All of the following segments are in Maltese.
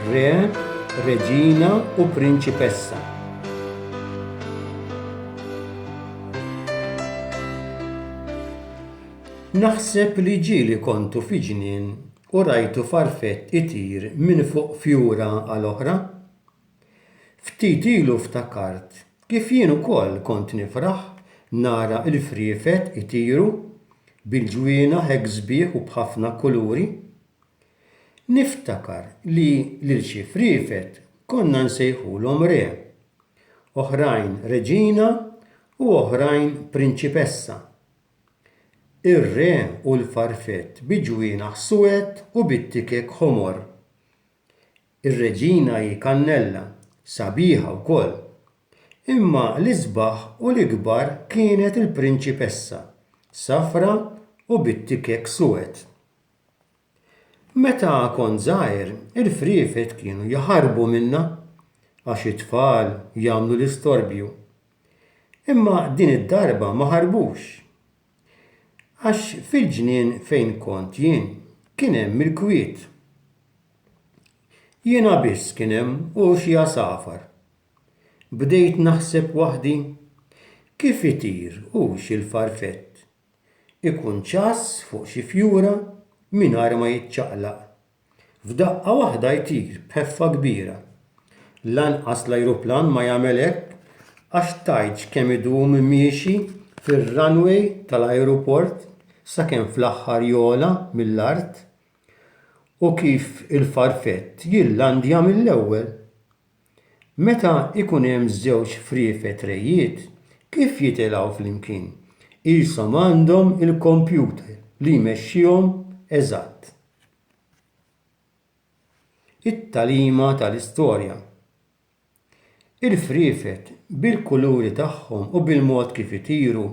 Re, Reġina u Prinċipessa. Naħseb li ġieli kontu fi ġnien u rajtu farfett itir minn fuq fjura għal oħra. Ftit ilu ftakart kif jien ukoll kont nifraħ nara l-friefet itiru bil-ġwienaħ hekk sbieħ u b'ħafna kuluri. Niftakar li lil xi friefet konna nsejħulhom Re, oħrajn Reġina u oħrajn Prinċipessa. Ir-Re u l-farfett bi ġwienaħ suwed u bit-tikek ħomor. Ir-Reġina hi kannella, sabiħa wkoll. Imma l-isbaħ u l-ikbar kienet il-Prinċipessa, safra u bit-tikek suwed. Meta kont żgħir, il-friefet kienu jaħarbu minnha għax it-tfal jagħmlu l-istorbju. Imma din id-darba ma ħarbux. Għax fil-ġnien fejn kont jien kien hemm il-kwiet. Jiena biss kien hemm u xi għasafar. Bdejt naħseb waħdi, kif itir u x'il-farfett ikun ċass fuq xi fjura mingħajr ma jiċċaqlaq. F'daqqa waħda jtir b'ħeffa kbira. Lanqas l-ajruplan ma jagħmel hekk għax tgħidx kemm idum miexi fir-runway tal-ajruport sakemm fl-aħħar jogħla mill-art u kif il-farfett jillandja mill-ewwel. Meta jkun hemm żewġ friefet rejjiet, kif jitilgħu flimkien? Qishom għandhom il-kompjuter li jmexxihom eżatt. It-tagħlima tal-istorja. Il-friefet, bil-kuluri tagħhom u bil-mod kif itiru,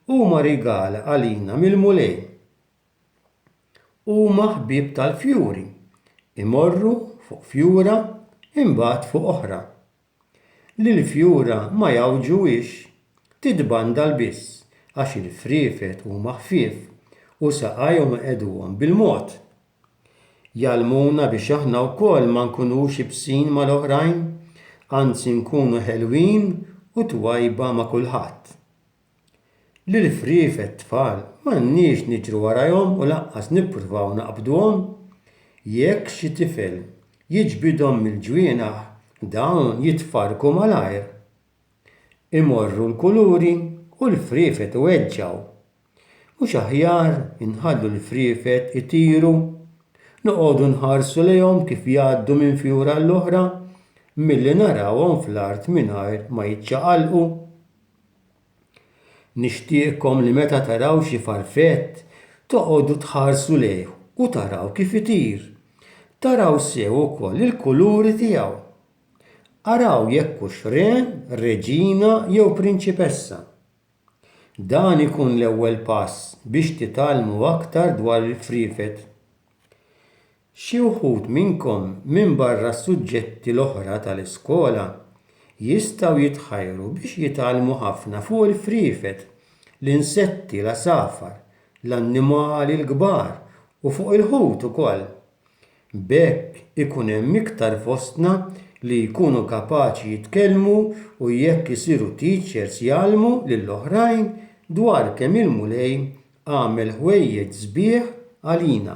huma rigal għalina mill-Mulej. Huma ħbieb tal-fjuri, imorru fuq fjura imbagħad fuq oħra. li l-fjura ma jgħawġuhiex, tidbandal biss għax il-friefet huma ħfief u saqajhom iqegħduhom bil-mod. Jgħallmuna biex aħna wkoll ma nkunux ibsin mal-oħrajn, anzi nkunu ħelwin u twajba ma' kulħadd. L-irfrief għat-tfal m'għandniex niġru warajhom u lanqas nippruvaw naqbduhom. Jekk xi tifel jiġbidhom mill-ġwienaħ dawn jitfarrku malajr. Imorru l-kuluri u l-friefet iweġġgħu. Mhux aħjar inħallu l-friefet itiru, noqogħdu nħarsu lejhom kif jgħaddu minn fjura għall-oħra milli narawhom fl-art mingħajr ma jiċċaqalqu? Nixtieqkom li meta taraw xi farfett toqogħdu tħarsu lejh u taraw kif itir. Taraw sew ukoll il-kuluri tiegħu. Araw jekk hux re, reġina jew prinċipessa. Dan ikun l-ewwel pass biex titgħallmu aktar dwar il-friefet. Xi wħud minnkom minbarra s-suġġetti l-oħra tal-iskola jistgħu jitħajru biex jitgħallmu ħafna fuq il-friefet, l-insetti, l-għasafar, l-annimali l-kbar u fuq il-ħut ukoll. B'hekk ikun hemm iktar fostna li jkunu kapaċi jitkellmu u jekk isiru teachers jgħallmu lil oħrajn dwar kemm il-Mulej għamel ħwejjeġ sbieħ għalina.